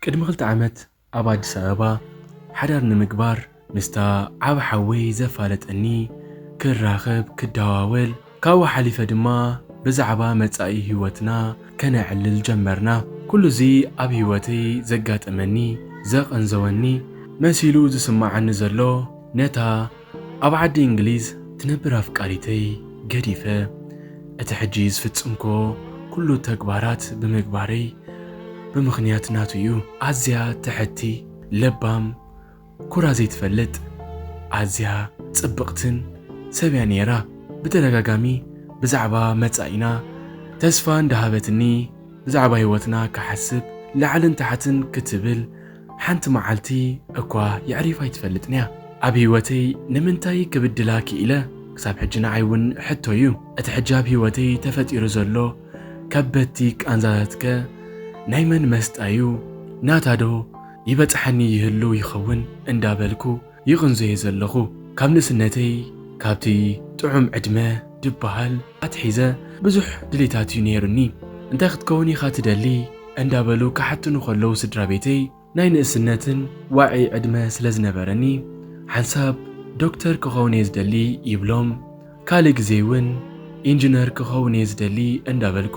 ቅድሚ ክልተ ዓመት ኣብ ኣዲስ ኣበባ ሓዳር ንምግባር ምስታ ዓብ ሓወይ ዘፋለጠኒ ክራኸብ ክደዋወል ካብኡ ሓሊፈ ድማ ብዛዕባ መጻኢ ህይወትና ከነዕልል ጀመርና። ኩሉ እዚ ኣብ ህይወተይ ዘጋጠመኒ ዘቐንዘወኒ መሲሉ ዝስማዓኒ ዘሎ ነታ ኣብ ዓዲ እንግሊዝ ትነብር ኣፍቃሪተይ ገዲፈ እቲ ሕጂ ዝፍጽምኮ ኩሉ ተግባራት ብምግባረይ ብምኽንያት ናቱ እዩ። ኣዝያ ትሕቲ፣ ለባም፣ ኩራ ዘይትፈልጥ ኣዝያ ጽብቕትን ሰብ እያ ነይራ። ብተደጋጋሚ ብዛዕባ መጻኢና ተስፋ እንዳሃበትኒ ብዛዕባ ህይወትና ክሓስብ ላዕልን ታሕትን ክትብል ሓንቲ መዓልቲ እኳ የዕሪፋ ኣይትፈልጥን እያ። ኣብ ህይወተይ ንምንታይ ክብድላ ክኢለ ክሳብ ሕጂ ንዓይ እውን ሕቶ እዩ። እቲ ሕጂ ኣብ ህይወተይ ተፈጢሩ ዘሎ ከበድቲ ቃንዛታት ከ ናይ መን መስጣ እዩ? ናታ ዶ ይበጽሓኒ ይህሉ ይኸውን? እንዳበልኩ ይቕንዞ'የ ዘለኹ። ካብ ንእስነተይ ካብቲ ጥዑም ዕድመ ድበሃል ኣትሒዘ ብዙሕ ድሌታት'ዩ ነይሩኒ። እንታይ ክትከውን ኢኻ ትደሊ? እንዳበሉ ክሓቱኒ ከለዉ ስድራቤተይ፣ ናይ ንእስነትን ዋዒ ዕድመ ስለ ዝነበረኒ ሓንሳብ ዶክተር ክኸውን'የ ዝደሊ ይብሎም፣ ካልእ ግዜ'ውን ኢንጅነር ክኸውን'የ ዝደሊ እንዳበልኩ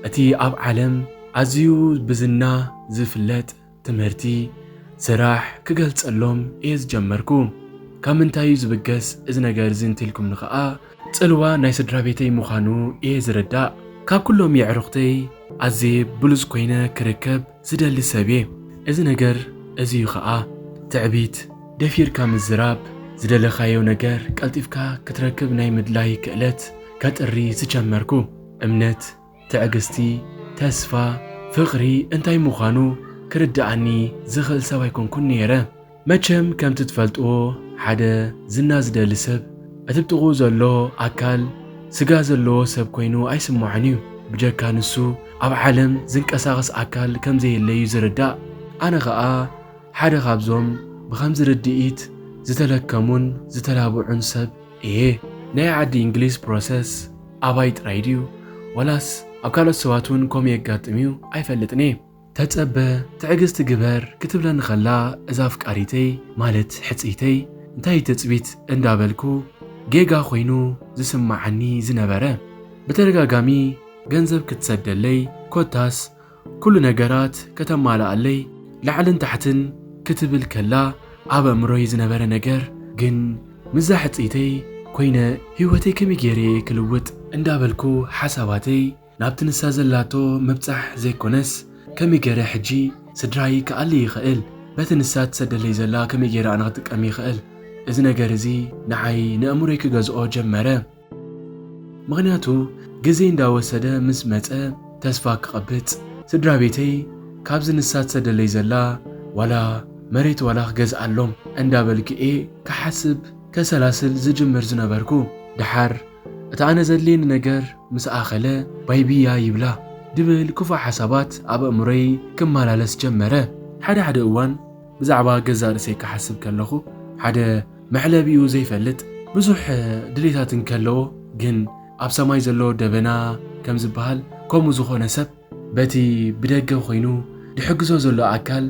እቲ ኣብ ዓለም ኣዝዩ ብዝና ዝፍለጥ፣ ትምህርቲ፣ ስራሕ ክገልጸሎም እየ ዝጀመርኩ። ካብ ምንታይ እዩ ዝብገስ እዚ ነገር እዚ እንተልኩምኒ ከኣ፣ ጽልዋ ናይ ስድራቤተይ ምዃኑ እየ ዝርዳእ። ካብ ኩሎም የዕሩኽተይ ኣዝየ ብሉጽ ኮይነ ክርከብ ዝደሊ ሰብ እየ። እዚ ነገር እዚ እዩ ከኣ ትዕቢት። ደፊርካ ምዝራብ፣ ዝደለኻዮ ነገር ቀልጢፍካ ክትረክብ ናይ ምድላይ ክእለት ከጥሪ ዝጀመርኩ። እምነት፣ ትዕግስቲ፣ ተስፋ፣ ፍቕሪ እንታይ ምዃኑ ክርድኣኒ ዝኽእል ሰብ ኣይኮንኩን ነይረ። መቸም ከምቲ ትፈልጥዎ ሓደ ዝና ዝደሊ ሰብ እቲ ብጥቕኡ ዘሎ ኣካል ስጋ ዘለዎ ሰብ ኮይኑ ኣይስምዖን እዩ። ብጀካ ንሱ ኣብ ዓለም ዝንቀሳቐስ ኣካል ከም ዘየለ እዩ ዝርዳእ። ኣነ ኸኣ ሓደ ካብዞም ብኸምዚ ርድኢት ዝተለከሙን ዝተላብዑን ሰብ እየ ናይ ዓዲ ኢንግሊዝ ፕሮሰስ ኣባይ ጥራይ ድዩ ዋላስ ኣብ ካልኦት ሰባት እውን ከምኡ የጋጥም እዩ ኣይፈልጥን እየ ተጸበ ትዕግስቲ ግበር ክትብለኒ ከላ እዛ ኣፍቃሪተይ ማለት ሕጽይተይ እንታይ እዩ ትጽቢት እንዳበልኩ ጌጋ ኮይኑ ዝስማዓኒ ዝነበረ ብተደጋጋሚ ገንዘብ ክትሰደለይ ኮታስ ኩሉ ነገራት ከተማልኣለይ ላዕልን ታሕትን ክትብል ከላ ኣብ ኣእምሮይ ዝነበረ ነገር ግን ምስዛ ሕጽይተይ ኮይነ ህይወተይ ከመይ ገይረ እየ ክልውጥ እንዳበልኩ ሓሳባተይ ናብቲ ንሳ ዘላቶ ምብጻሕ ዘይኮነስ ከመይ ገይረ ሕጂ ስድራይ ክኣሊ ይኽእል በቲ ንሳ ትሰደለይ ዘላ ከመይ ገይረ ኣነ ክጥቀም ይኽእል እዚ ነገር እዚ ንዓይ ንእምሮይ ክገዝኦ ጀመረ። ምክንያቱ ግዜ እንዳወሰደ ምስ መጸ ተስፋ ክቐብጽ ስድራ ቤተይ ካብዚ ንሳ ትሰደለይ ዘላ ዋላ መሬት ዋላ ክገዝኣሎም እንዳበልኩ እየ ክሓስብ ከሰላስል ዝጅምር ዝነበርኩ። ደሓር እቲ ኣነ ዘድልየኒ ነገር ምስ ኣኸለ ባይ ብያ ይብላ ድብል ክፉእ ሓሳባት ኣብ ኣእምሮይ ክመላለስ ጀመረ። ሓደ ሓደ እዋን ብዛዕባ ገዛእ ርእሰይ ክሓስብ ከለኹ ሓደ መዕለቢኡ ዘይፈልጥ ብዙሕ ድሌታት እንከለዎ ግን ኣብ ሰማይ ዘሎ ደበና ከም ዝበሃል ከምኡ ዝኾነ ሰብ በቲ ብደገ ኮይኑ ድሕግዞ ዘሎ ኣካል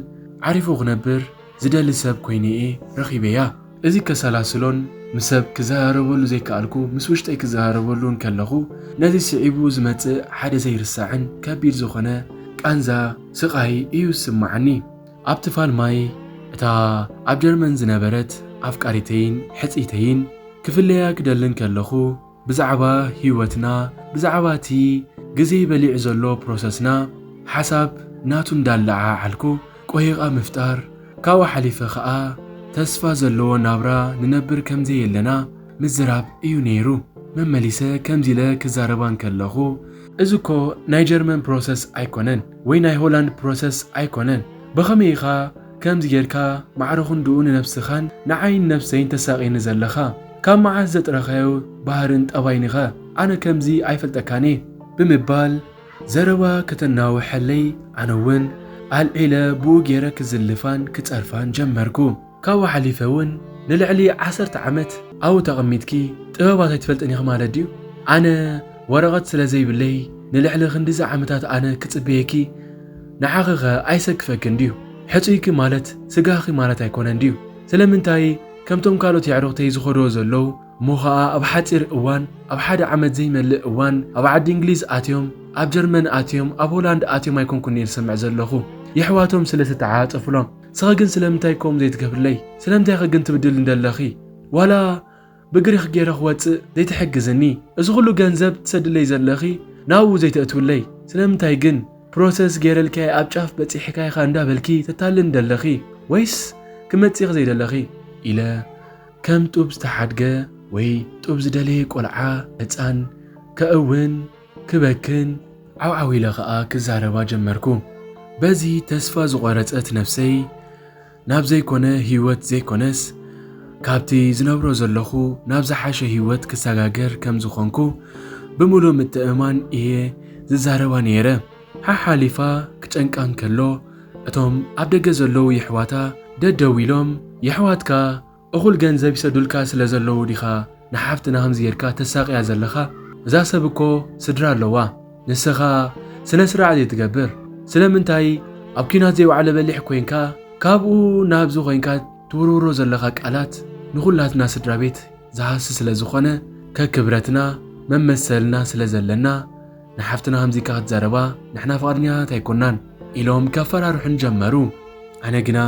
ዓሪፉ ክነብር ዝደሊ ሰብ ኮይኑ እየ ረኺበያ። እዚ ከሰላስሎን ምስ ሰብ ክዘራረበሉ ዘይከኣልኩ ምስ ውሽጠይ ክዘራረበሉ እንከለኹ ነዚ ስዒቡ ዝመጽእ ሓደ ዘይርሳዕን ከቢድ ዝኾነ ቃንዛ ስቓይ እዩ ዝስመዓኒ። ኣብቲ ፋልማይ እታ ኣብ ጀርመን ዝነበረት ኣፍቃሪተይን ሕጽይተይን ክፍለያ ክደልን ከለኹ ብዛዕባ ሂወትና ብዛዕባ እቲ ግዜ በሊዑ ዘሎ ፕሮሰስና ሓሳብ ናቱ እንዳለዓዓልኩ ቆሂቓ ምፍጣር ካብኡ ሓሊፈ ከኣ ተስፋ ዘለዎ ናብራ ንነብር ከምዘየለና ምዝራብ እዩ ነይሩ መመሊሰ ከምዚ ኢለ ክዛረባ እንከለኹ እዚ እኮ ናይ ጀርመን ፕሮሰስ ኣይኮነን ወይ ናይ ሆላንድ ፕሮሰስ ኣይኮነን በኸመይ ኢኻ ከምዚ ጌርካ ማዕረ ክንድኡ ንነብስኻን ንዓይን ነብሰይን ተሳቅየኒ ዘለኻ ካብ መዓስ ዘጥረኻዮ ባህርን ጠባይን ኢኻ ኣነ ከምዚ ኣይፈልጠካን እየ ብምባል ዘረባ ከተናውሐለይ ኣነ ውን ኣልዒለ ብኡ ጌረ ክዝልፋን ክጸርፋን ጀመርኩ። ካብኡ ሓሊፈ ውን ንልዕሊ ዓሰርተ ዓመት ኣብኡ ተቐሚጥኪ ጥበባት ኣይትፈልጥን ኢኺ ማለት ድዩ? ኣነ ወረቐት ስለ ዘይብለይ ንልዕሊ ክንድዚ ዓመታት ኣነ ክጽበየኪ ንዓኺ ከ ኣይሰክፈክን ድዩ? ሕጹይኪ ማለት ስጋኺ ማለት ኣይኮነን ድዩ? ስለምንታይ ከምቶም ካልኦት የዕሩኽተይ ዝኸድዎ ዘለዉ እሞ ከኣ ኣብ ሓጺር እዋን ኣብ ሓደ ዓመት ዘይመልእ እዋን ኣብ ዓዲ እንግሊዝ ኣትዮም ኣብ ጀርመን ኣትዮም ኣብ ሆላንድ ኣትዮም ኣይኮንኩን እየ ዝሰምዕ ዘለኹ የሕዋቶም ስለ ዝተዓጻጸፉሎም ስኸ ግን ስለምንታይ ከምኡ ዘይትገብርለይ ስለምንታይ ኸ ግን ትብድልኒ ደለኺ ዋላ ብግሪኽ ጌረ ክወጽእ ዘይትሕግዝኒ እዚ ኹሉ ገንዘብ ትሰድለይ ዘለኺ ናብኡ ዘይተእትውለይ ስለምንታይ ግን ፕሮሰስ ጌረልኪ ኣብ ጫፍ በጺሕካ ኢኻ እንዳ በልኪ ተታልልኒ ደለኺ ወይስ ክመጽእኺ ዘይደለኺ ኢለ ከም ጡብ ዝተሓድገ ወይ ጡብ ዝደለየ ቆልዓ ህጻን ከእውን ክበክን ዓውዓው ኢለ ከኣ ክዛረባ ጀመርኩ። በዚ ተስፋ ዝቖረጸት ነፍሰይ ናብ ዘይኮነ ህይወት ዘይኮነስ ካብቲ ዝነብሮ ዘለኹ ናብ ዝሓሸ ህይወት ክሰጋገር ከም ዝኾንኩ ብምሉእ ምትእምማን እየ ዝዛረባ ነይረ። ሓሓሊፋ ክጨንቃ እንከሎ እቶም ኣብ ደገ ዘለዉ የሕዋታ ደደው ኢሎም የሕዋትካ እኹል ገንዘብ ይሰዱልካ ስለ ዘለዉ ዲኻ ንሓፍትና ከምዚ ጌርካ ተሳቕያ ዘለኻ? እዛ ሰብ እኮ ስድራ ኣለዋ ንስኻ ስነ ስርዓት ዘይትገብር ስለምንታይ ኣብ ኲናት ዘይወዓለ በሊሕ ኮይንካ ካብኡ ናብዚ ኮይንካ ትውርውሮ ዘለኻ ቃላት ንኹላትና ስድራቤት ዝሃሲ ስለ ዝኾነ ከክብረትና መመሰልና ስለ ዘለና ንሓፍትና ከምዚካ ክትዛረባ ንሕና ፍቓድኛታት ኣይኮናን ኢሎም ከፈራርሑን ጀመሩ። ኣነ ግና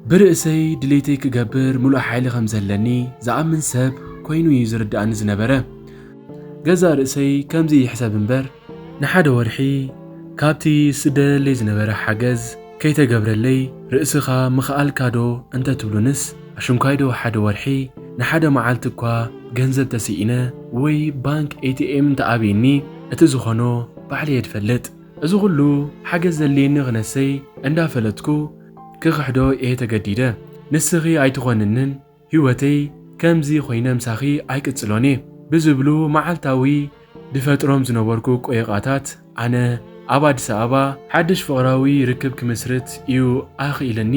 ብርእሰይ ድሌተይ ክገብር ምሉእ ሓይሊ ከም ዘለኒ ዝኣምን ሰብ ኮይኑ እዩ ዝርድኣኒ ዝነበረ። ገዛእ ርእሰይ ከምዚ ይሕሰብ እምበር ንሓደ ወርሒ ካብቲ ዝስደደለይ ዝነበረ ሓገዝ ከይተገብረለይ ርእስኻ ምኽኣልካ ዶ እንተ ትብሉንስ፣ ኣሽንኳይ ዶ ሓደ ወርሒ ንሓደ መዓልቲ እኳ ገንዘብ ተሲኢነ ወይ ባንክ ATM እንተ ኣብዩኒ እቲ ዝኾኖ ባዕለይ እየ ድፈልጥ። እዚ ኹሉ ሓገዝ ዘድልየኒ ክነሰይ እንዳ ፈለጥኩ ክኽሕዶ እየ ተገዲደ። ንስኺ ኣይትኾንንን ሂወተይ ከምዚ ኮይነ ምሳኺ ኣይቅጽሎን እየ ብዝብሉ መዓልታዊ ድፈጥሮም ዝነበርኩ ቆየቛታት ኣነ ኣብ ኣዲስ ኣበባ ሓድሽ ፍቕራዊ ርክብ ክምስርት እዩ ኣኽኢልኒ።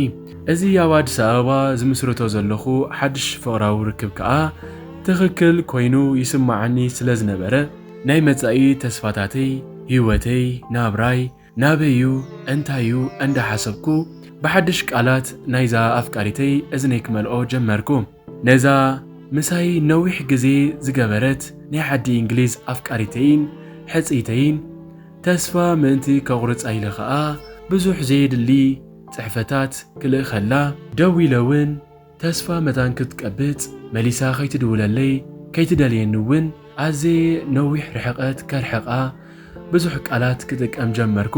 እዚ ኣብ ኣዲስ ኣበባ ዝምስርቶ ዘለኹ ሓድሽ ፍቕራዊ ርክብ ከኣ ትኽክል ኮይኑ ይስመዓኒ ስለዝነበረ ናይ መጻኢ ተስፋታተይ፣ ሂወተይ፣ ናብራይ፣ ናበይ'ዩ እንታይ'ዩ እንዳሓሰብኩ ብሓድሽ ቃላት ናይዛ ኣፍቃሪተይ እዝነይ ክመልኦ ጀመርኩ። ነዛ ምሳይ ነዊሕ ግዜ ዝገበረት ናይ ዓዲ እንግሊዝ ኣፍቃሪተይን ሕጽይተይን ተስፋ ምእንቲ ከቑርጻ ኢለ ከኣ ብዙሕ ዘየድሊ ጽሕፈታት ክልእኸላ ደዊለ'ውን ተስፋ መታን ክትቀብጽ መሊሳ ከይትድውለለይ ከይትደልየኒ እውን ኣዘየ ነዊሕ ርሕቐት ከርሕቓ ብዙሕ ቃላት ክጥቀም ጀመርኩ።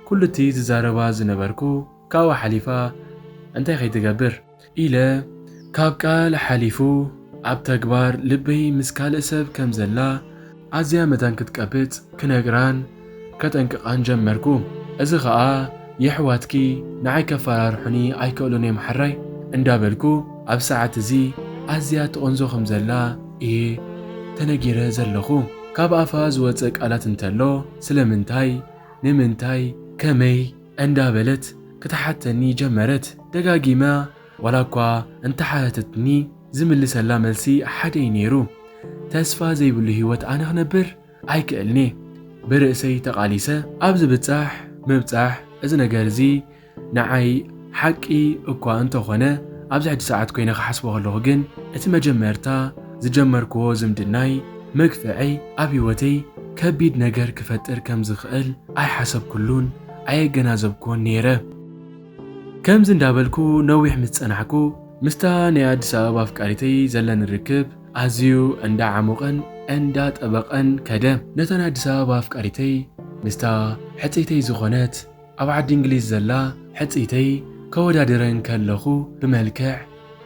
ኩሉ እቲ ዝዛረባ ዝነበርኩ ካብኡ ሓሊፋ እንታይ ከይትገብር? ኢለ ካብ ቃል ሓሊፉ ኣብ ተግባር ልበይ ምስ ካልእ ሰብ ከም ዘላ፣ ኣዝያ መታን ክትቀብጽ ክነግራን ከጠንቅቓን ጀመርኩ። እዚ ኸኣ የሕዋትኪ ንዓይ ከፈራርሑኒ ኣይክእሉን እዮም ሐራይ እንዳበልኩ ኣብ ሰዓት እዚ ኣዝያ ትቕንዞ ከም ዘላ እየ ተነጊረ ዘለኹ። ካብ ኣፋ ዝወጸ ቃላት እንተሎ ስለምንታይ ንምንታይ ከመይ እንዳበለት ክትሓተኒ ጀመረት ደጋጊማ። ዋላ እኳ እንተሓተተትኒ ዝምልሰላ መልሲ ሓደ እዩ ነይሩ፣ ተስፋ ዘይብሉ ህይወት ኣነ ክነብር ኣይክእልን'የ፣ ብርእሰይ ተቓሊሰ ኣብ ዝብጻሕ ምብጻሕ እዚ ነገር እዚ ንዓይ ሓቂ እኳ እንተኾነ ኣብዚ ሕጂ ሰዓት ኮይነ ክሓስቦ ከለኹ ግን እቲ መጀመርታ ዝጀመርክዎ ዝምድናይ መግፍዐይ ኣብ ህይወተይ ከቢድ ነገር ክፈጥር ከም ዝኽእል ኣይሓሰብኩሉን ኣየገናዘብክዎን ነይረ። ከምዚ እንዳበልኩ ነዊሕ ምስ ጸናሕኩ ምስታ ናይ ኣዲስ ኣበባ ኣፍቃሪተይ ዘለኒ ርክብ ኣዝዩ እንዳ ዓሞቐን እንዳ ጠበቐን ከደ። ነታ ናይ ኣዲስ ኣበባ ኣፍቃሪተይ ምስታ ሕጽይተይ ዝኾነት ኣብ ዓዲ እንግሊዝ ዘላ ሕጽይተይ ከወዳድረን ከለኹ ብመልክዕ፣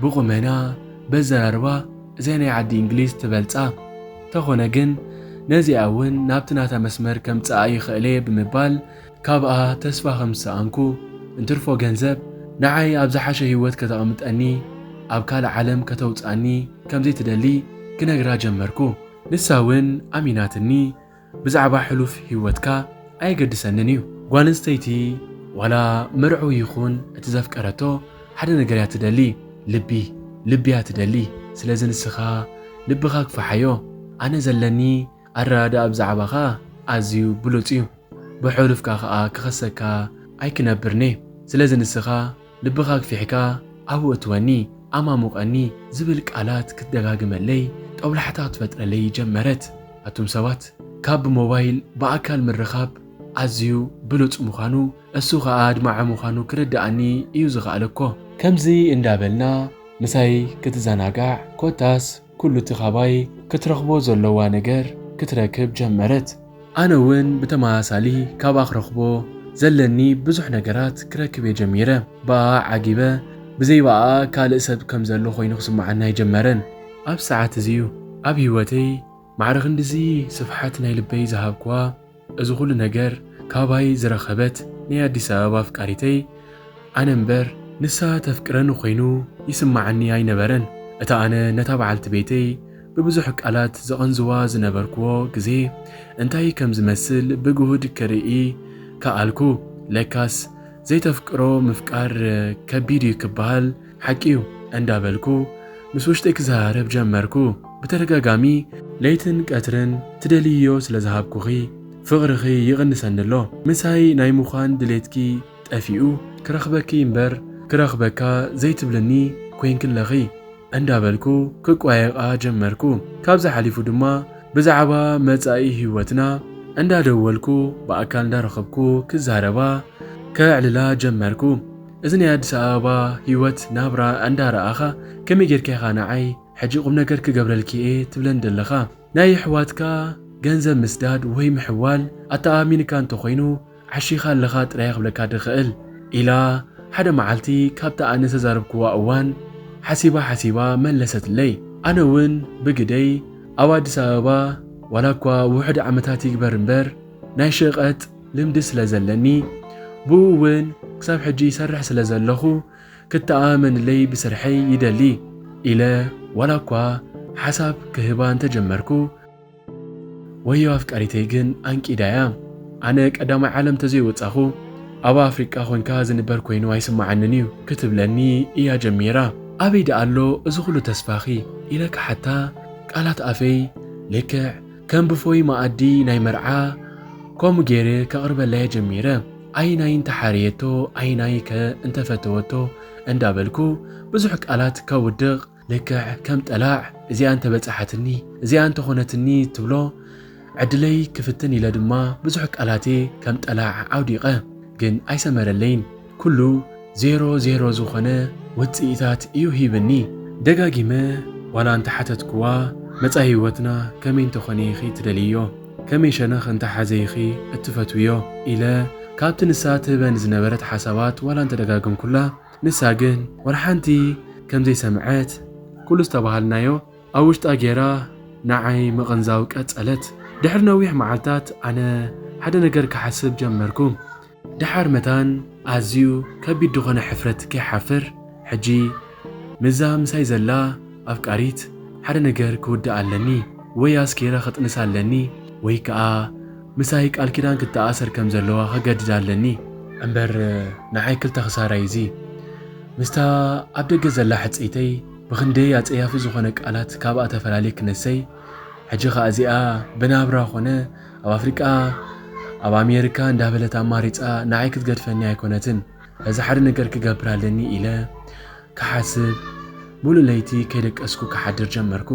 ብቑመና፣ በዘራርባ እዚኣ ናይ ዓዲ እንግሊዝ ትበልጻ ተኾነ ግን ነዚኣ እውን ናብቲ ናታ መስመር ከምጽኣ ይኽእል'የ ብምባል ካብኣ ተስፋ ከም ዝሰኣንኩ፣ እንትርፎ ገንዘብ ንዓይ ኣብ ዝሓሸ ህይወት ከተቕምጠኒ፣ ኣብ ካልእ ዓለም ከተውጽኣኒ ከም ዘይትደሊ ክነግራ ጀመርኩ። ንሳ እውን ኣሚናትኒ፣ ብዛዕባ ሕሉፍ ህይወትካ ኣየገድሰንን እዩ። ጓል ኣንስተይቲ ዋላ መርዑ ይኹን እቲ ዘፍቀረቶ ሓደ ነገር እያ ትደሊ፣ ልቢ። ልቢ እያ ትደሊ። ስለዚ ንስኻ ልብኻ ግፋሓዮ። ኣነ ዘለኒ ኣረዳድኣ ብዛዕባኻ ኣዝዩ ብሉጽ እዩ፣ ብሕሉፍካ ከኣ ክኸሰካ ኣይክነብርን'የ፣ ስለዚ ንስኻ ልብኻ ኣግፊሕካ ኣብኡ እትወኒ፣ ኣማሙቐኒ ዝብል ቃላት ክትደጋግመለይ ጦብላሕታ ክትፈጥረለይ ጀመረት። ኣቱም ሰባት ካብ ብሞባይል ብኣካል ምርኻብ ኣዝዩ ብሉጽ ምዃኑ እሱ ከኣ ኣድማዒ ምዃኑ ክርድኣኒ እዩ ዝኸኣለ'ኮ። ከምዚ እንዳበልና ምሳይ ክትዘናጋዕ ኮታስ ኩሉ እቲ ካባይ ክትረኽቦ ዘሎዋ ነገር ክትረክብ ጀመረት። ኣነ እውን ብተመሳሳሊ ካብኣ ክረኽቦ ዘለኒ ብዙሕ ነገራት ክረክብ እየ ጀሚረ። ብኣኣ ዓጊበ፣ ብዘይ ብኣኣ ካልእ ሰብ ከም ዘሎ ዀይኑ ክስምዓኒ ኣይጀመረን። ኣብዚ ሰዓት እዚ እዩ ኣብ ህይወተይ ማዕረ ኽንድዚ ስፍሓት ናይ ልበይ ዝሃብክዋ። እዚ ኩሉ ነገር ካባይ ዝረከበት ናይ ኣዲስ ኣበባ ኣፍቃሪተይ ኣነ እምበር ንሳ ተፍቅረኒ ኮይኑ ይስማዓኒ ኣይነበረን እታ ኣነ ነታ በዓልቲ ቤተይ ብብዙሕ ቃላት ዝቐንዝዋ ዝነበርክዎ ግዜ እንታይ ከም ዝመስል ብግሁድ ክርኢ ከኣልኩ ለካስ ዘይተፍቅሮ ምፍቃር ከቢድ እዩ ክበሃል ሓቂ'ዩ እንዳበልኩ ምስ ውሽጠይ ክዘራረብ ጀመርኩ። ብተደጋጋሚ ለይትን ቀትርን ትደልይዮ ስለ ዝሃብኩኺ ፍቕርኺ ይቕንሰኒ'ሎ። ምሳይ ናይ ምዃን ድሌትኪ ጠፊኡ ክረኽበኪ እምበር ክረኽበካ ዘይትብልኒ ኰይንኪ'ለኺ እንዳበልኩ ክቋየቓ ጀመርኩ። ካብዚ ሓሊፉ ድማ ብዛዕባ መጻኢ ህይወትና እንዳደወልኩ ብኣካል እንዳረኸብኩ ክዛረባ ከዕልላ ጀመርኩ። እዚ ናይ ኣዲስ ኣበባ ሂወት ናብራ እንዳ ረኣኻ ከመይ ጌርካ ኢኻ ንዓይ ሕጂ ቁምነገር ክገብረልኪ እየ ትብለኒ ደለኻ ናይ የሕዋትካ ገንዘብ ምስዳድ ወይ ምሕዋል ኣተኣማሚንካ እንተ ኮይኑ ዓሺኻ ኣለኻ ጥራየ ክብለካ ድኽእል ኢላ ሓደ መዓልቲ ካብታ ኣነ ዝተዛረብክዋ እዋን ሓሲባ ሓሲባ መለሰትለይ ኣነ ውን ብግደይ ኣብ ኣዲስ ኣበባ ዋላኳ ውሑድ ዓመታት ይግበር እምበር ናይ ሸቀጥ ልምዲ ስለ ዘለኒ ብኡ ውን ክሳብ ሕጂ ይሰርሕ ስለ ዘለኹ ክተኣማመንለይ ብስርሐይ ይደሊ። ኢለ ዋላ እኳ ሓሳብ ክህባ እንተጀመርኩ ወዮ ኣፍቃሪተይ ግን ኣንቂዳ እያ። ኣነ ቀዳማይ ዓለም ተዘይወጻኹ ኣብ ኣፍሪቃ ኮንካ ዝንበር ኮይኑ ኣይስመዓንን እዩ ክትብለኒ እያ ጀሚራ። ኣበይ ደኣ ኣሎ እዚ ኩሉ ተስፋኺ? ኢለ ክሓታ ቃላት ኣፈይ ልክዕ ከም ብፎይ መኣዲ ናይ መርዓ ከምኡ ገይረ ከቕርበላ'የ ጀሚረ። ኣየናይ እንተ ሓረየቶ ኣየናይ'ከ እንተ ፈተወቶ እንዳበልኩ ብዙሕ ቃላት ከውድቕ፣ ልክዕ ከም ጠላዕ እዚኣ እንተ በጽሓትኒ እዚኣ እንተ ኾነትኒ ትብሎ ዕድለይ ክፍትን ኢለ ድማ ብዙሕ ቃላት'የ ከም ጠላዕ ኣውዲቐ። ግን ኣይሰመረለይን። ኩሉ ዜሮ ዜሮ ዝኾነ ውጽኢታት እዩ ሂብኒ። ደጋጊመ ዋላ እንተ ሓተትኩዋ፣ መጻኢ ህይወትና ከመይ እንተ ኾነ ኢኺ ትደልይዮ? ከመይ ሸነኽ እንተ ሓዘ ኢኺ እትፈትውዮ? ኢለ ካብቲ ንሳ ትህበኒ ዝነበረት ሓሳባት ዋላ እንተ ደጋገምኩላ፣ ንሳ ግን ዋላ ሓንቲ ከም ዘይሰምዐት፣ ኩሉ ዝተባሃልናዮ ኣብ ውሽጣ ጌራ ንዓይ ምቕንዛው ቀጸለት። ድሕሪ ነዊሕ መዓልታት ኣነ ሓደ ነገር ክሓስብ ጀመርኩ። ደሓር መታን ኣዝዩ ከቢድ ድኾነ ሕፍረት ከይሓፍር ሕጂ ምስዛ ምሳይ ዘላ ኣፍቃሪት ሓደ ነገር ክውድኣ ኣለኒ ወይ ኣስኪረ ክጥንሳ ኣለኒ ወይ ከኣ ምሳይ ቃል ኪዳን ክተኣሰር ከም ዘለዋ ከገድዳ ኣለኒ እምበር ንዓይ ክልተ ክሳራ እዩ እዚ ምስታ ኣብ ደገ ዘላ ሕጽይተይ ብኽንደይ ኣጸያፊ ዝኾነ ቃላት ካብኣ ተፈላልየ ክነሰይ ሕጂ ከኣ እዚኣ ብናብራ ኮነ ኣብ ኣፍሪቃ ኣብ ኣሜሪካ እንዳበለት ኣማሪጻ ንዓይ ክትገድፈኒ ኣይኮነትን። ሕዚ ሓደ ነገር ክገብር ኣለኒ ኢለ ክሓስብ ሙሉእ ለይቲ ከይደቀስኩ ክሓድር ጀመርኩ።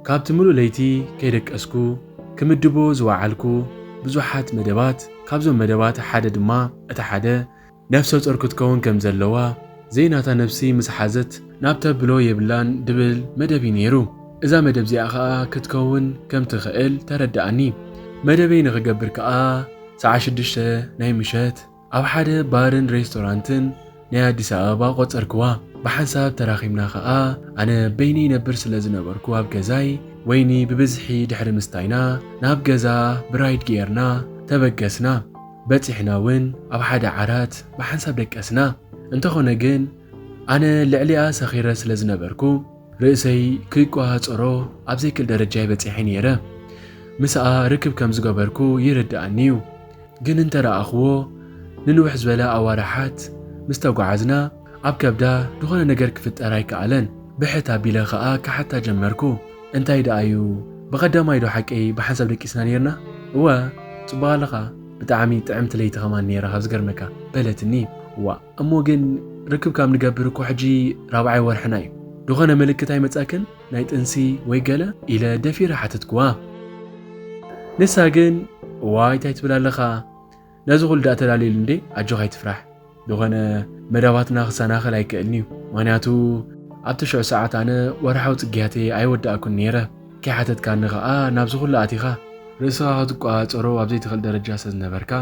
ካብቲ ሙሉእ ለይቲ ከይደቀስኩ ክምድቦ ዝወዓልኩ ብዙሓት መደባት ካብዞም መደባት ሓደ ድማ እቲ ሓደ ነፍሰ ጾር ክትከውን ከም ዘለዋ ዘይናታ ነብሲ ምስ ሓዘት ናብ ተብሎ የብላን ድብል መደብ'ዩ ነይሩ። እዛ መደብ'ዚኣ ከኣ ክትከውን ከም ትኽእል ተረደኣኒ። መደበይ ንኽገብር ከኣ ሰዓት ሽዱሽተ ናይ ምሸት ኣብ ሓደ ባርን ሬስቶራንትን ናይ ኣዲስ ኣበባ ቆጸርክዋ። ብሓንሳብ ተራኺብና ከኣ ኣነ በይነይ ይነብር ስለ ዝነበርኩ ኣብ ገዛይ ወይኒ ብብዝሒ ድሕሪ ምስታይና ናብ ገዛ ብራይድ ገይርና ተበገስና። በጺሕና ውን ኣብ ሓደ ዓራት ብሓንሳብ ደቀስና። እንተኾነ ግን ኣነ ልዕሊኣ ሰኺረ ስለ ዝነበርኩ ርእሰይ ክቆሃጸሮ ኣብ ዘይክል ደረጃ'የ በጺሐ ኔረ። ምስኣ ርክብ ከም ዝገበርኩ ይርድኣኒ'ዩ። ግን እንተረኣኹዎ ንንውሕ ዝበለ ኣዋርሓት ምስ ተጓዓዝና፣ ኣብ ከብዳ ዝኾነ ነገር ክፍጠር ኣይከኣለን ብሕት ኣቢለ ከኣ ክሓታ ጀመርኩ እንታይ ደኣ እዩ ብቐዳማይ ዶ ሓቀይ ብሓንሳብ ደቂስና ኔርና እወ ጽቡቕ ኣለኻ ብጣዕሚ ጥዕምቲ ለይቲ ከማን ኔራ ካብ ዝገርመካ በለትኒ ዋእ እሞ ግን ርክብ ካብ ንገብር እኮ ሕጂ ራብዓይ ወርሕና እዩ ዝኾነ ምልክት ኣይመጻክን ናይ ጥንሲ ወይ ገለ ኢለ ደፊረ ሓተትክዋ ንሳ ግን ዋይ እንታይ ትብል ኣለኻ ነዚ ኩሉ ድኣ ተዳልየሉ እንዴ ኣጆካ ኣይትፍራሕ ድኾነ መዳባትና ክሰናኸል ኣይክእልንዩ ምክንያቱ ኣብቲ ሽዑ ሰዓት ኣነ ወርሓዊ ጽግያተይ ኣይወዳእኩን ነይረ ከይሓተትካኒ ከኣ ናብዚ ኩሉ ኣቲኻ ርእስኻ ክትቆጻጸሮ ኣብ ዘይትኽእል ደረጃ ስለ ዝነበርካ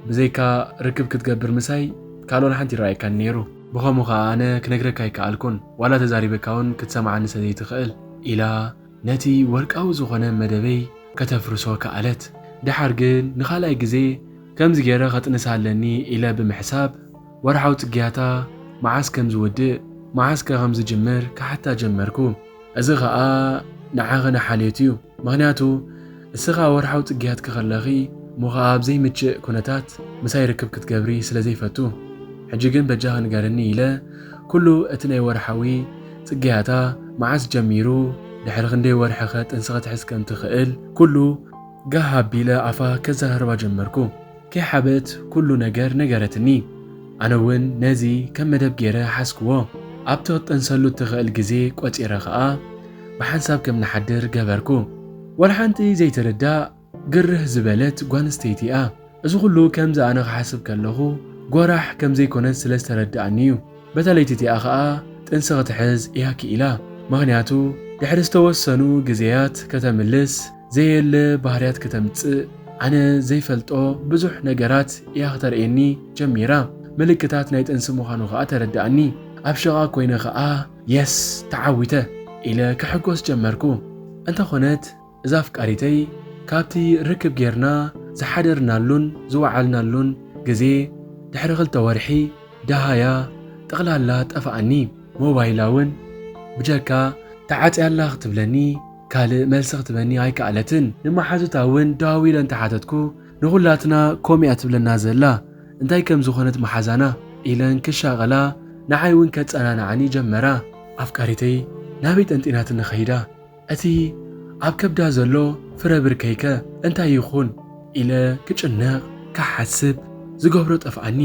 ብዘይካ ርክብ ክትገብር ምሳይ ካልእ ዋላ ሓንቲ ይረኣየካን ነይሩ ብኸምኡ ከኣ ኣነ ክነግረካ ኣይከኣልኩን ዋላ ተዛሪበካውን ክትሰምዓኒ ስለ ዘይትኽእል ኢላ ነቲ ወርቃዊ ዝዀነ መደበይ ከተፍርሶ ከኣለት። ደሓር ግን ንኻልኣይ ግዜ ከምዚ ገይረ ኸጥንሳ ኣለኒ ኢለ ብምሕሳብ፣ ወርሓዊ ጽግያታ መዓስ ከም ዝውድእ፣ መዓስከ ኸም ዝጅምር ክሓታ ጀመርኩ። እዚ ኸኣ ንዓኺ ንሓልዮት'ዩ፣ ምኽንያቱ፣ እስኻ ወርሓዊ ጽግያትኪ ከለኺ እሞ ኸኣ ኣብ ዘይምችእ ኩነታት ምሳይ ርክብ ክትገብሪ ስለ ዘይፈቱ ሕጂ ግን በጃኺ ንገርኒ ኢለ ኩሉ እቲ ናይ ወርሓዊ ጽግያታ መዓስ ጀሚሩ ድሕሪ ክንደይ ወርሒኸ ጥንሲ ክትሕዝ ከም ትኽእል ኩሉ ጋህ ኣቢለ ኣፋ ከዘራርባ ጀመርኩ። ከይሓበት ኩሉ ነገር ነገረትኒ። ኣነ ውን ነዚ ከም መደብ ገይረ ሓዝክዎ። ኣብቲ ክትጥንሰሉ እትኽእል ግዜ ቆጺረ ከኣ ብሓንሳብ ከም ንሓድር ገበርኩ። ዋላ ሓንቲ ዘይትርዳእ ግርህ ዝበለት ጓንስተይቲ'ያ። እዚ ኩሉ ከምዚ ኣነ ክሓስብ ከለኹ ጎራሕ ከም ዘይኮነት ስለ ዝተረድኣኒ'ዩ። በታ ለይቲ'ቲኣ ከኣ ጥንሲ ክትሕዝ እያ ክኢላ። ምኽንያቱ ድሕሪ ዝተወሰኑ ግዜያት ከተምልስ፣ ዘየለ ባህርያት ከተምጽእ ኣነ ዘይፈልጦ ብዙሕ ነገራት እያ ክተርእየኒ ጀሚራ። ምልክታት ናይ ጥንሲ ምዃኑ ከኣ ተረድኣኒ። ኣብ ሽቓ ኮይነ ከኣ የስ ተዓዊተ ኢለ ክሕጎስ ጀመርኩ። እንተኾነት እዛ ኣፍቃሪተይ ካብቲ ርክብ ጌርና ዝሓደርናሉን ዝወዓልናሉን ግዜ ድሕሪ ክልተ ወርሒ ደሃያ ጠቕላላ ጠፍኣኒ። ሞባይላ ውን ብጀካ ተዓጽያ'ላ ክትብለኒ ካልእ መልሲ ክትበኒ ኣይከኣለትን። ንመሓዙታ ውን ደዋዊለ እንተሓተትኩ ንኹላትና ኮም'ያ ትብለና ዘላ፣ እንታይ ከም ዝኾነት መሓዛና? ኢለን ክሻቐላ ንዓይ ውን ከጸናንዓኒ ጀመራ። ኣፍቃሪተይ ናበይ ጠንጢናትኒ ከይዳ? እቲ ኣብ ከብዳ ዘሎ ፍረ ብርከይ'ከ እንታይ ይኹን? ኢለ ክጭነቕ፣ ክሓስብ፣ ዝገብሮ ጠፍኣኒ።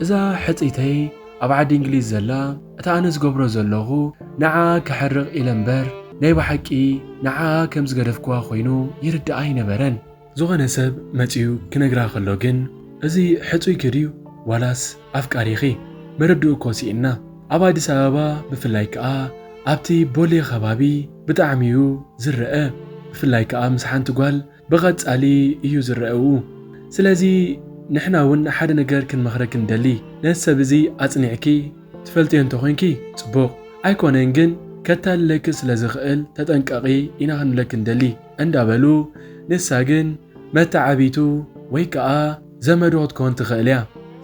እዛ ሕጽይተይ ኣብ ዓዲ እንግሊዝ ዘላ እታ ኣነ ዝገብሮ ዘለኹ ንዓኣ ከሕርቕ ኢለ እምበር ናይ ብሓቂ ንዓኣ ከም ዝገደፍክዋ ኮይኑ ይርድኣ ኣይነበረን። ዝኾነ ሰብ መጺኡ ክነግራ ከሎ ግን እዚ ሕጹይኪ ድዩ ዋላስ ኣፍቃሪኺ መረድኡ እኮ ሲኢንና ኣብ ኣዲስ ኣበባ ብፍላይ ክኣ ኣብቲ ቦሌ ከባቢ ብጣዕሚ እዩ ዝረኣ ብፍላይ ክኣ ምስ ሓንቲ ጓል ብቐጻሊ እዩ ዝረኣኡ ስለዚ ንሕና እውን ሓደ ነገር ክንመኽረኪ ንደሊ ነዚ ሰብ እዚ ኣጽኒዕኪ ትፈልጥዮ እንተኾይንኪ ጽቡቕ ኣይኮነን ግን ከታልለኪ ስለዝኽእል ተጠንቀቒ ኢና ክንብለኪ ንደሊ እንዳበሉ ንሳ ግን መተዓብይቱ ወይ ከኣ ዘመዱ ክትኮን ትኽእል እያ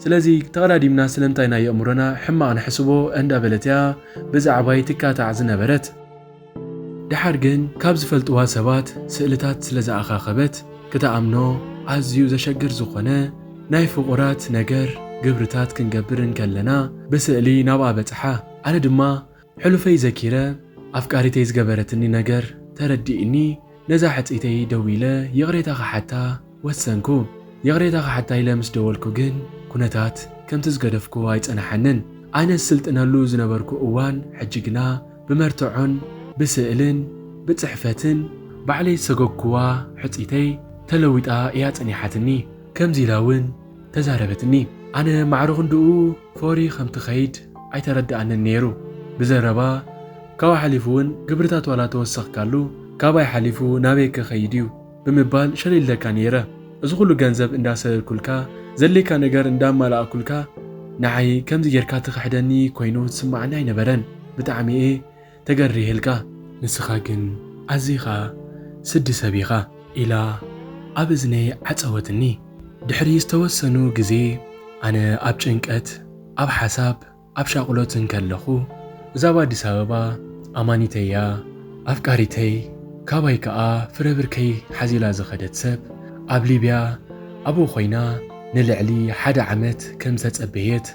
ስለዚ ተቐዳዲምና ስለምንታይ ናይ የእምሮና ሕማቕ ንሕስቦ እንዳበለት እያ ብዛዕባይ ትካታዕ ዝነበረት። ደሓር ግን ካብ ዝፈልጥዋ ሰባት ስእልታት ስለ ዝኣኻኸበት ክትኣምኖ ኣዝዩ ዘሸግር ዝኾነ ናይ ፍቑራት ነገር ግብርታት ክንገብር እንከለና ብስእሊ ናብኣ በጽሓ። ኣነ ድማ ሕሉፈይ ዘኪረ ኣፍቃሪተይ ዝገበረትኒ ነገር ተረዲእኒ ነዛ ሕጽይተይ ደዊለ ይቕሬታ ክሓታ ወሰንኩ። ይቕሬታ ክሓታ ኢለ ምስ ደወልኩ ግን ኩነታት ከምቲ ዝገደፍክዎ ኣይጸናሓንን። ኣነ ዝስልጥነሉ ዝነበርኩ እዋን ሕጂ ግና ብመርትዖን ብስእልን ብጽሕፈትን ባዕለይ ዝሰጎግክዋ ሕጽይተይ ተለዊጣ ኢያ ጸኒሓትኒ። ከምዚ ኢላ እውን ተዛረበትኒ። ኣነ ማዕረ ክንድኡ ፎሪ ከም ትኸይድ ኣይተረድኣንን ነይሩ። ብዘረባ ካብኡ ሓሊፉ እውን ግብርታት ዋላ ተወሰኽካሉ ካብይ ሓሊፉ ናበይ ከኸይድ ኢዩ? ብምባል ሸሊለካ ነይረ እዚ ኩሉ ገንዘብ እንዳሰለልኩልካ ዘድልየካ ነገር እንዳማላኣኩልካ ንዓይ ከምዚ ጌርካ ትክሕደኒ ኮይኑ ዝስማዓኒ ኣይነበረን ብጣዕሚ እየ ተገሪህልካ ንስካ ግን ኣዚካ ስዲ ሰብ ኢካ። ኢላ ኣብ እዝነይ ዓጸወትኒ። ድሕሪ ዝተወሰኑ ግዜ ኣነ ኣብ ጭንቀት ኣብ ሓሳብ ኣብ ሻቕሎት እንከለኹ እዛ ኣብ ኣዲስ ኣበባ ኣማኒተይ'ያ፣ ኣፍቃሪተይ፣ ካባይ ከኣ ፍረ ብርከይ ሓዚላ ዝኸደት ሰብ፣ ኣብ ሊብያ ኣብኡ ኮይና ንልዕሊ ሓደ ዓመት ከም ዝተጸበየት፣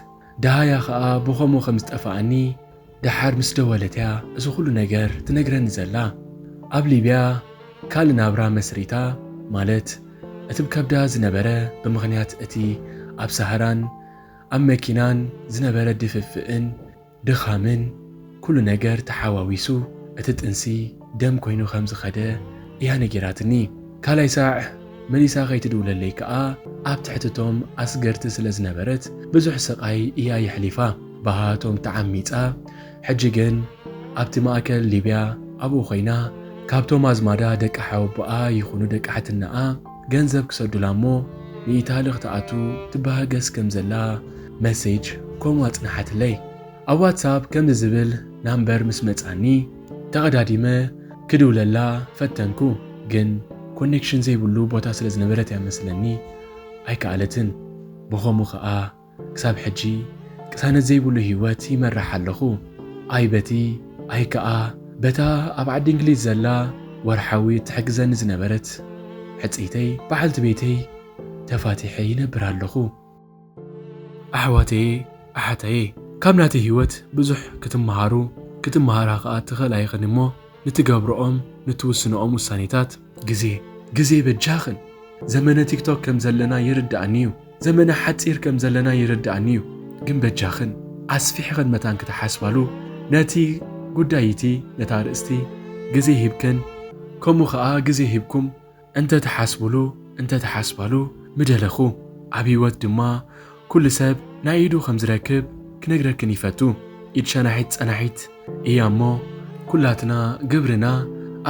ደሃያ ከኣ ብኸምኡ ከም ዝጠፍኣኒ ደሓር ምስ ደወለት'ያ እዚ ኹሉ ነገር ትነግረኒ ዘላ። ኣብ ሊብያ ካልእ ናብራ መስሪታ፣ ማለት እቲ ብ ከብዳ ዝነበረ ብምኽንያት እቲ ኣብ ሳህራን፣ ኣብ መኪናን ዝነበረ ድፍፍእን ድኻምን ኩሉ ነገር ተሓዋዊሱ እቲ ጥንሲ ደም ኮይኑ ከም ዝኸደ እያ ነጊራትኒ። ካልኣይ ሳዕ መሊሳ ከይትድውለለይ ከኣ ኣብ ትሕቲ'ቶም ኣስገርቲ ስለ ዝነበረት ብዙሕ ስቓይ እያ የሕሊፋ። ብሃቶም ተዓሚጻ ሕጂ ግን ኣብቲ ማእከል ሊብያ ኣብኡ ኮይና ካብቶም ኣዝማዳ ደቂ ሓወቦኣ ይኹኑ ደቂ ሓትነኣ፣ ገንዘብ ክሰዱላ እሞ ንኢታሊ ክትኣቱ ትበሃገስ ከም ዘላ መሴጅ ኮም ኣጽንሓትለይ። ኣብ ዋትሳፕ ከምዚ ዝብል ናምበር ምስ መጻኒ ተቐዳዲመ ክድውለላ ፈተንኩ ግን ኮኔክሽን ዘይብሉ ቦታ ስለ ዝነበረት እያ መስለኒ ኣይከኣለትን። ብኸምኡ ከኣ ክሳብ ሕጂ ቅሳነት ዘይብሉ ህይወት ይመርሕ ኣለኹ። ኣይ በቲ ኣይ ከኣ በታ ኣብ ዓዲ እንግሊዝ ዘላ ወርሓዊ እትሕግዘኒ ዝነበረት ሕጽይተይ በዓልቲ ቤተይ ተፋቲሐ ይነብር ኣለኹ። ኣሕዋተየ ኣሓተየ ካብ ናተይ ህይወት ብዙሕ ክትመሃሩ ክትመሃራ ከኣ ትኽእላ ኢኽን እሞ ንትገብርኦም ንትውስንኦም ውሳኔታት ግዜ ግዜ በጃኽን ዘመነ ቲክቶክ ከም ዘለና ይርድኣኒ እዩ ዘመነ ሓጺር ከም ዘለና ይርድኣኒ እዩ ግን በጃኽን ኣስፊሕኽን መታን ክትሓስባሉ ነቲ ጉዳይ እቲ ነታ ርእስቲ ግዜ ሂብክን ከምኡ ከኣ ግዜ ሂብኩም እንተ ትሓስቡሉ እንተ ትሓስባሉ ምደለኹ ኣብ ህይወት ድማ ኩሉ ሰብ ናይ ኢዱ ከም ዝረክብ ክነግረክን ይፈቱ። ኢድ ሸናሒት ጸናሒት ኢያ እሞ ኩላትና ግብርና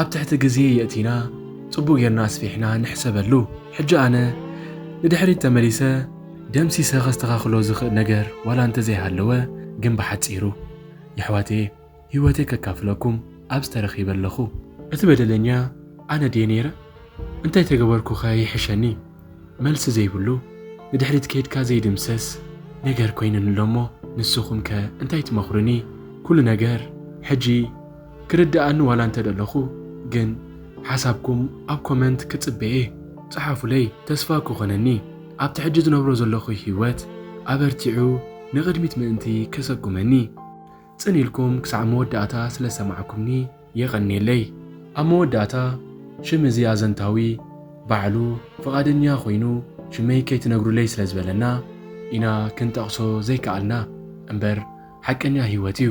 ኣብ ትሕቲ ግዜ የእቲና ጽቡቅ ጌርና ኣስፊሕና ንሕሰበሉ። ሕጂ ኣነ ንድሕሪት ተመሊሰ ደምሲሰ ከስተካክሎ ዝክእ ነገር ዋላ እንተዘይሃለወ ግን ብሓጺሩ የሕዋተየ፣ ህይወተይ ከካፍለኩም ኣብዚ ተረኺበ ኣለኹ። እቲ በደለኛ ኣነ ድየ ነይረ? እንታይ ተገበርኩኸ ይሕሸኒ? መልሲ ዘይብሉ፣ ንድሕሪት ከይድካ ዘይድምሰስ ነገር ኮይኑኒ ኣሎ'ሞ ንስኹምከ እንታይ ትመኽሩኒ? ኩሉ ነገር ሕጂ ክርድኣኒ ዋላ እንተደለኹ ግን ሓሳብኩም ኣብ ኮመንት ክጽበ'የ። ጽሓፉለይ ተስፋ ክኾነኒ። ኣብቲ ሕጂ ዝነብሮ ዘለኹ ህይወት ኣበርቲዑ ንቕድሚት ምእንቲ ከሰጉመኒ። ጽን ኢልኩም ክሳዕ መወዳእታ ስለ ዝሰማዕኩምኒ የቐንየለይ። ኣብ መወዳእታ ሽም እዚ ኣዘንታዊ ባዕሉ ፍቓደኛ ኮይኑ ሽመይ ከይትነግሩለይ ስለ ዝበለና ኢና ክንጠቕሶ ዘይከኣልና እምበር ሓቀኛ ህይወት እዩ።